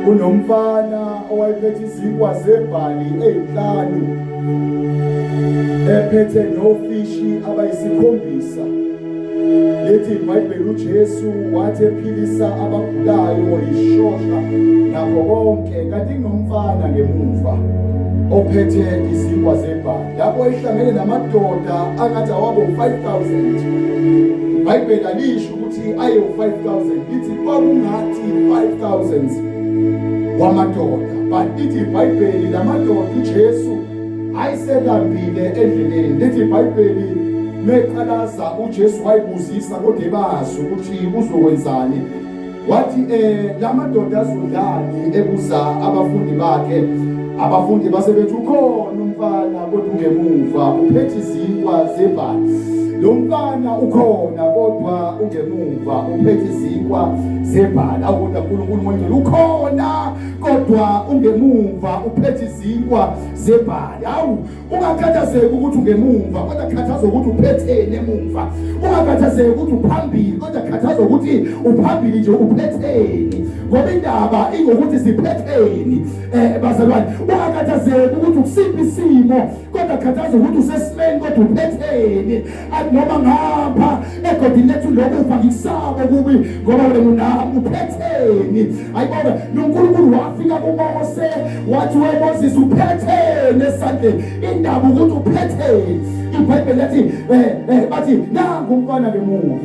kunomfana owayephethe izinkwa zebhali ezinhlanu ephethe nofishi abayisikhombisa lethi ibhayibheli ujesu wathi ephilisa abagulayo wayishosha nakho konke kanti kunomfana ngemuva ophethe izinkwa zebhali lapho ehlangene namadoda angathi awabo 5000 ibhayibheli alisho ayo 5000 ithi kwakungathi 5000 wamadoda but ithi iBhayibheli lamadoda uJesu ayiselambile endleleni lithi iBhayibheli meqalaza uJesu wayibuzisa kodwa ebazi ukuthi uzokwenzani wathi eh lamadoda azodlani ebuza abafundi bakhe abafundi base bethi ukhona umfana Kodwa ungemuva uphethe izinkwa zebhadi. Lo mfana ukhona kodwa ungemuva uphethe izinkwa zebhadi. Awukodwa uNkulunkulu manje ukhona kodwa ungemuva uphethe izinkwa zebhadi. Awu ungakhathazeki ukuthi ungemuva kodwa khathaza ukuthi uphetheni emuva. Ungakhathazeki ukuthi uphambili kodwa khathaza ukuthi uphambili nje uphetheni. Ngoba indaba ingokuthi siphetheni. eh bazalwane ungakhathazeki ukuthi ukusiphi isimo kodwa khathaza ukuthi usesimeni kodwa uphetheni athi noma ngapha egodini lethu lokhu ufa ngisabo kubi ngoba wena unami uphetheni ayibona noNkulunkulu wafika kuMose wathi we Moses uphetheni esandleni indaba ukuthi uphetheni iBhayibheli lathi eh, eh bathi nangu umfana bemuva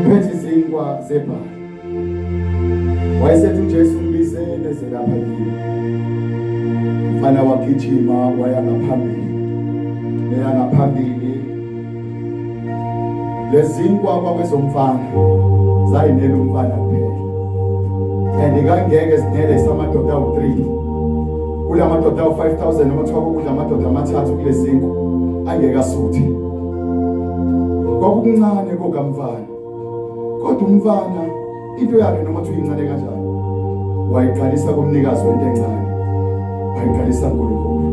phethe izinkwa zebhali Wayesethi uJesu mbize nezingaphakile. Mfana wagijima waya ngaphambili. Leya ngaphambili. Lezinkwa kwakwezomfana zayinela umfana kuphela. And kangeke sinele samadoda awu3. Kulamadoda awu5000 noma kuthiwa kukudla amadoda amathathu kulezinkwa angeke asuthe. Kwakuncane kokamfana. Kodwa umfana into yakhe noma uthi uyincane kanjani wayiqalisa kumnikazi wento encane wayiqalisa kuNkulunkulu.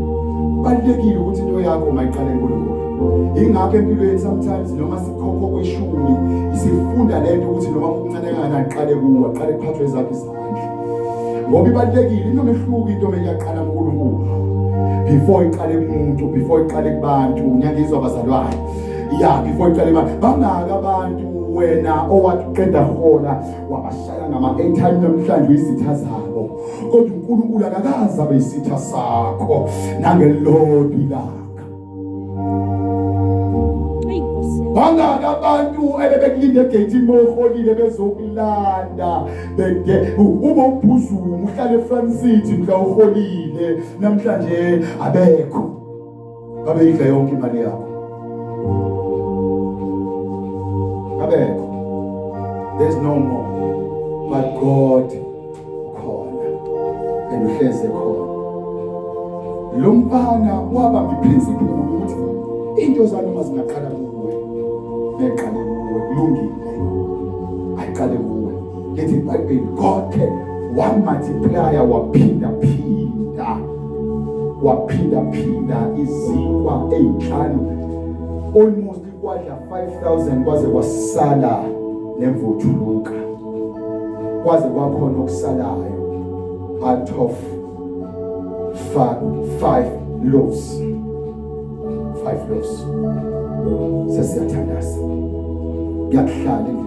Kubalulekile ukuthi into yakho mayiqale kuNkulunkulu. Ingakho empilweni sometimes noma sikhokho kweshumi isifunda lento ukuthi noma kuncane kangakanani qale kuwe, qale kuphathwe ezakho ngoba ibalulekile into mehluka into meyaqala uNkulunkulu before iqale kumuntu before iqale kubantu ngiyangizwa abazalwane ya before iqale imali bangaka abantu wena owathi uqeda hola wabashaya ngama-airtime namhlanje uyizitha zabo kodwa unkulunkulu akakazi abe yisitha sakho nangelilodwa ilanga bangaki abantu ebebekulinde egeyithini mawuholile bezokulanda bede ube ubhuzuma uhlale efrancity mhla uholile namhlanje abekho babeyidla yonke imali yakho abekho there's no more but god khona and uhleze khona lo mfana waba ngiprinciple ukuthi into zami uma zingaqala kuwe ngiqale kuwe kulungile ayiqale kuwe ngithi ibhayibheli god can one multiplier waphinda phinda waphinda phinda izinkwa ezinhlanu almost kwadla 5000 kwaze kwasala nemvuthuluka kwaze kwakhona okusalayo out of five loaves five loaves sesiyathandaza kuyakuhlala endlini